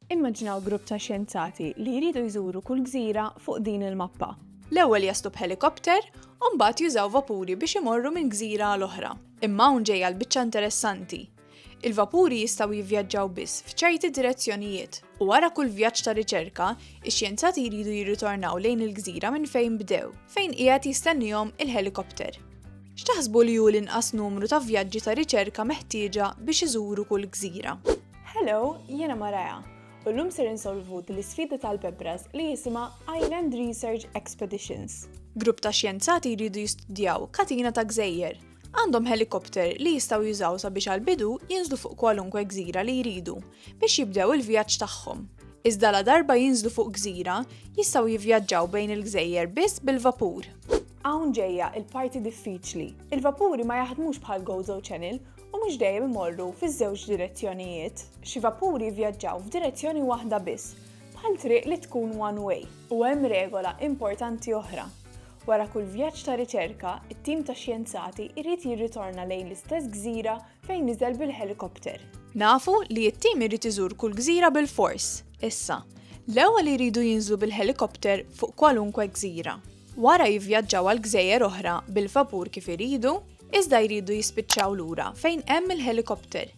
Immaġinaw grupp ta' xjenzati li jridu jżuru kull gżira fuq din il-mappa. L-ewwel jaslu b'ħelikopter u mbagħad jużaw vapuri biex imorru minn gżira għal oħra. Imma hawn ġejja l-biċċa interessanti. Il-vapuri jistgħu jivvjaġġaw biss f'ċerti direzzjonijiet, u wara kull vjaġġ ta' riċerka, ix-xjenzati jridu jirritornaw lejn il-gżira minn fejn bdew, fejn qiegħed jistennihom il-ħelikopter. X'taħsbu li hu l-inqas numru ta' vjaġġi ta' riċerka meħtieġa biex iżuru kull gżira? Hello, jiena Maraja, u llum ser insolvu din l-isfida tal-bebras li jisimha Island Research Expeditions. Grupp ta' xjenzati jridu jistudjaw katina ta' gżejjer. Għandhom helikopter li jistgħu jużaw sabiex għall-bidu jinżlu fuq kwalunkwe gżira li jridu biex jibdew il-vjaġġ tagħhom. Iżda ladarba jinżlu fuq gżira, jistgħu jivvjaġġaw bejn il-gżejjer biss bil-vapur. Hawn ġejja l-parti diffiċli. Il-vapuri ma jaħdmux bħal Gozo Channel u mhux dejjem imorru fiż-żewġ direzzjonijiet. Xi vapuri jivvjaġġaw f'direzzjoni waħda biss, bħal triq li tkun one way. U hemm regola importanti oħra. Wara kull vjaġġ ta' riċerka, it-tim ta' xjenzati jrid jirritorna lejn l-istess gżira fejn niżel bil-ħelikopter. Nafu li t-tim irid iżur kull gżira bilfors. Issa, l-ewwel iridu jinżlu bil-ħelikopter fuq kwalunkwe gżira. Wara jivvjaġġaw għal gżejjer oħra bil-vapur kif iridu, iżda jridu jispiċċaw lura fejn hemm il-ħelikopter,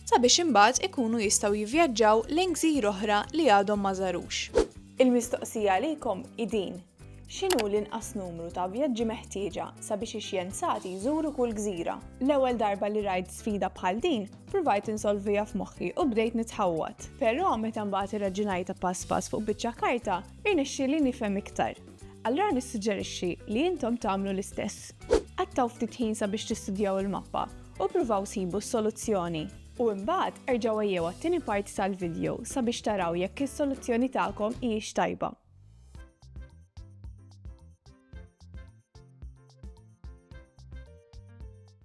sabiex imbagħad ikunu jistgħu jivvjaġġaw lejn gżir oħra li għadhom ma żarux. Il-mistoqsija għalikom hi din, x'inhu l-inqas numru ta' vjaġġi meħtieġa sabiex ix-xjenzati jżuru kull gżira? L-ewwel darba li rajt sfida bħal din, pruvajt insolviha f'moħħi u bdejt nitħawwad. Però meta mbagħad irraġunajtha pass pass fuq biċċa karta, irnexxieli nifhem iktar. Allura nissuġġerixxi li intom tagħmlu l-istess. Qattgħu ftit ħin sabiex tistudjaw il-mappa u ppruvaw sibu s-soluzzjoni. U imbagħad erġgħu għejjew għat-tieni parti tal-vidjo sabiex taraw jekk is-soluzzjoni tagħkom hijiex tajba.